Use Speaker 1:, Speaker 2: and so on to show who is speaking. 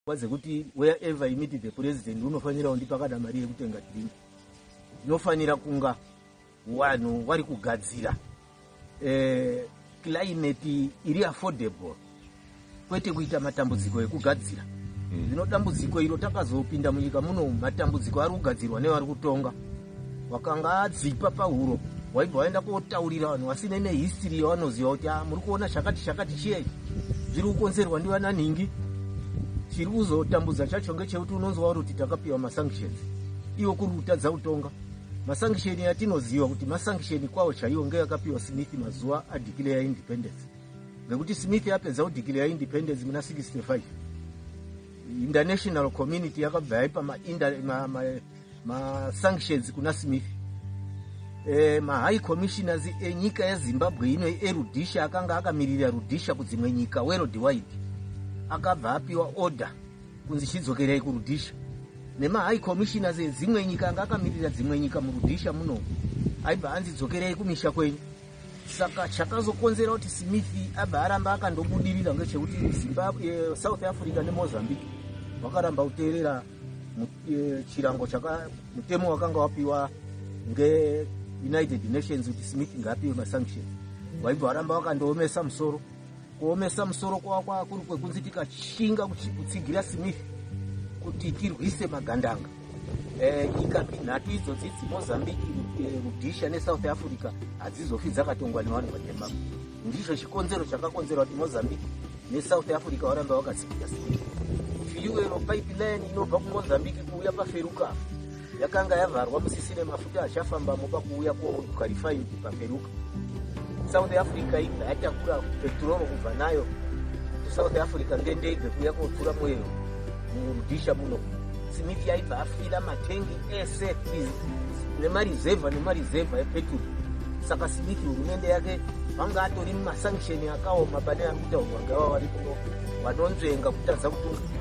Speaker 1: pfungwa dzekuti wherever you meet the president unofanira undipa kana mari yekutenga drink ndinofanira kunga vanhu wari kugadzira eh, climate iri affordable kwete kuita matambudziko ekugadzira mm. zvino dambudziko iro takazopinda munyika muno matambudziko ari kugadzirwa nevari kutonga wakanga adzipa pahuro waibva waenda kotaurira vanhu vasine nehistiri yavanoziva kuti ah, muri kuona chakati chakati chiye zviri kukonzerwa ndivana nhingi chiri kuzotambudza chacho ngechekuti unonzwa uri kuti takapiwa masanctions iwo kuri kutadza kutonga masanctioni yatinoziva kuti masanctioni kwavo chaiwo ngeyakapiwa smith mazuva adeclare independence ngekuti smith yapedza kudeclare independence muna 65 international community yakabva yaipa masanctions kuna smith e, mahigh commissioners enyika yezimbabwe ino erudisha akanga akamirira rudisha kudzimwe nyika world wide akabva apiwa order kunzi chidzokerei kurudisha nemahigh commissioners edzimwe nyika anga akamirira dzimwe nyika murudisha muno aibva anzi dzokerei kumisha kwenyu saka chakazokonzera kuti smith abva aramba akandobudirira ngechekuti zimbabwe eh, south africa nemozambique vakaramba kuteerera eh, chirango chaka mutemo wakanga wapiwa ngeunited nations kuti smith ngaapiwe masanction waibva waramba wakandoomesa musoro kuomesa musoro kwava kwava kuri kwekunzi tikashinga kutsigira smith kuti tirwise magandanga eh, nyika nhato idzodzi dzimozambique eh, rudisha nesouth africa hadzizofi dzakatongwa nevanhu vatema Ndizvo chikonzero chakakonzera kuti Mozambique neSouth Africa varambe vakatsikira sikira. Fuel pipeline inobva kuMozambique kuuya paFeruka yakanga yavharwa musisine mafuta achafambamo pakuuya kwerefinery paFeruka. South Africa ibva yatakura petrol kubva nayo kuSouth Africa ngendege kuuya kotura mwero murudisha muno smith yaibva afira matengi ese nemarizevha nemarizevha epeturu saka smith hurumende yake vanga atori mumasankisheni akaoma pane ari kutaurwa ngava vari kuno vanonzvenga kutadza kutunga